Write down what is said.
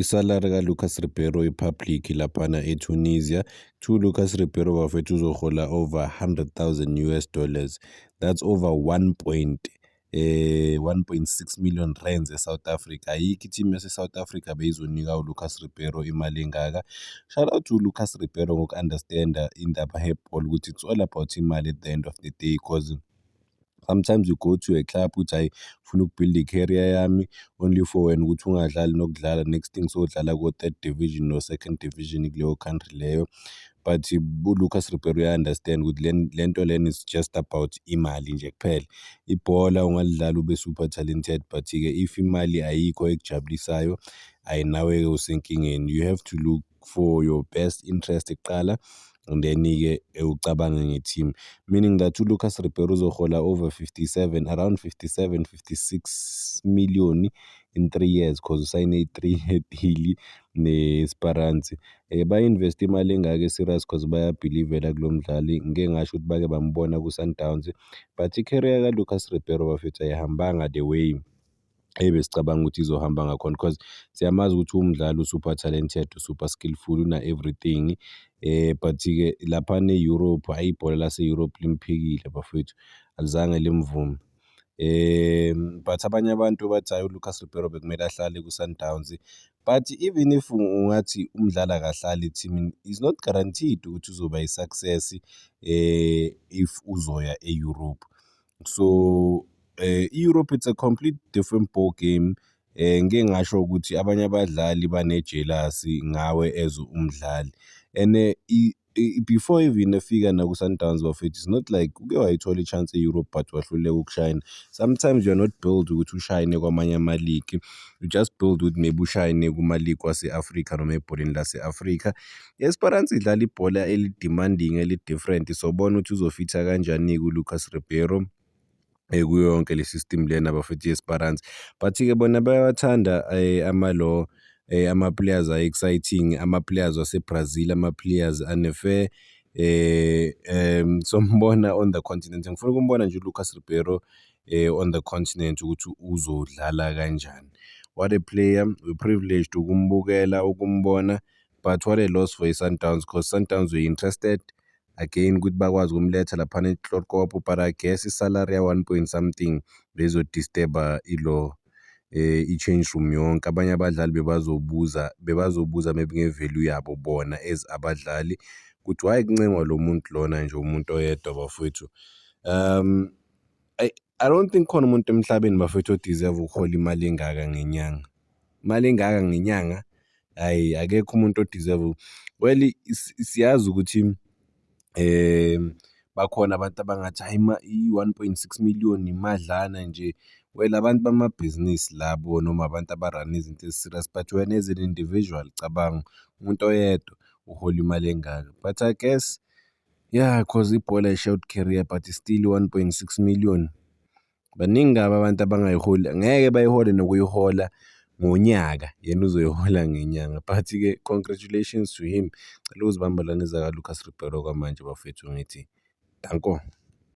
Isalary kaLucas Ribeiro ipublic laphana eTunisia. Kuthiwa uLucas Ribeiro bafethu uzohola over 100,000 US dollars. That's over 1 point eh 1.6 million rands eSouth Africa ayikho i-team yaseSouth Africa beyizonika uLucas Ribeiro imali engaka shout out to Lucas Ribeiro ngoku-understanda indaba he-ball ukuthi it's all about imali at the end of the day because Sometimes you go to a club ukuthi hhayi ngifuna ukubuilda i-career yami only for wena ukuthi ungadlali nokudlala next thing sowudlala ko-third division no-second division kuleyo country leyo. But uLucas Ribeiro uya-understand ukuthi le nto lena is just about imali nje kuphela. Ibhola ungalidlala ube super talented but-ke if imali ayikho ekujabulisayo, hhayi nawe-ke usenkingeni. You have to look for your best interest kuqala and then-ke ucabange nge-team meaning that uLucas Ribeiro uzohola over 57 around 57 56 million in three years because usayine i-three year deal ne-Esperance um eh, ba-investe imali engaka e-serious because bayabhilivela kulo mdlali ngike ngasho ukuthi bake bambona ku-Sundowns but i-career kaLucas Ribeiro bafethu ayihambanga the way Eyi besicabanga ukuthi izohamba ngakhona because siyamazi ukuthi umdlali usuper talented, usuper skillful, una-everything. Um but-ke laphana e-Europe, hhayi ibhola lase-Europe limphikile bafwethu, alizange limvume. Um but abanye abantu bathi hhayi uLucas Ribeiro bekumele ahlale kwiSundowns. But even if ungathi umdlali akahlali ethimini, is not guaranteed ukuthi uzoba yi-success um if uzoya e-Europe. So eh, i-Europe it's a complete different ball game eh ngike ngasho ukuthi abanye abadlali banejelasi ngawe as umdlali and eh, i- i- before even efika naku-sundowns bafethu it's not like uke wayithola i-chance e-europe but wahluleka ukushayina sometimes you're not build ukuthi ushayine kwamanye amaligi you just build ukuthi maybe ushayine kumaligi wase-afrika noma ebholeni lase-afrika I-Esperance idlala ibhola eli-demanding, eli-different. Sobona ukuthi uzofitha kanjani-ke uLucas Ribeiro eh, kuyo yonke le system lena bafethu i-Esperance. But-ke bona bayawathanda eh, ama-law eh, ama-players ayi-exciting, ama-players waseBrazil, ama-players ane-fair eh um sombona on the continent ngifuna ukumbona nje uLucas Ribeiro eh on the continent ukuthi uzodlala kanjani what a player we privileged ukumbukela ukumbona but what a loss for i-Sundowns because Sundowns were interested again ukuthi bakwazi ukumletha laphana ehlorkopo but i guess isalary ya-one point something bezodisturba ilo eh i-change room yonke abanye abadlali bebazobuza bebazobuza maybe nge-value yabo bona as abadlali ukuthi why kuncengwa lo muntu lona nje umuntu oyedwa bafowethu um I don't think khona umuntu emhlabeni bafethu odeserve ukuhola imali engaka ngenyanga. Imali engaka ngenyanga hhayi akekho umuntu odeserve well siyazi ukuthi um bakhona abantu abangathi hhayi i-one point six million imadlana nje. Well abantu bamabhizinisi labo noma abantu aba-run-a izinto ezi-serious but wena as an individual cabanga umuntu oyedwa uhola imali engaka but I guess Yeah cause ibhola i-short career but still one point six million baningi kabi abantu abangayiholi ngeke bayihole nokuyihola ngonyaka yena uzoyihola ngenyanga but-ke congratulations to him. Cela uzibambela nezakaLucas Ribeiro kwamanje bafethu ngithi danko.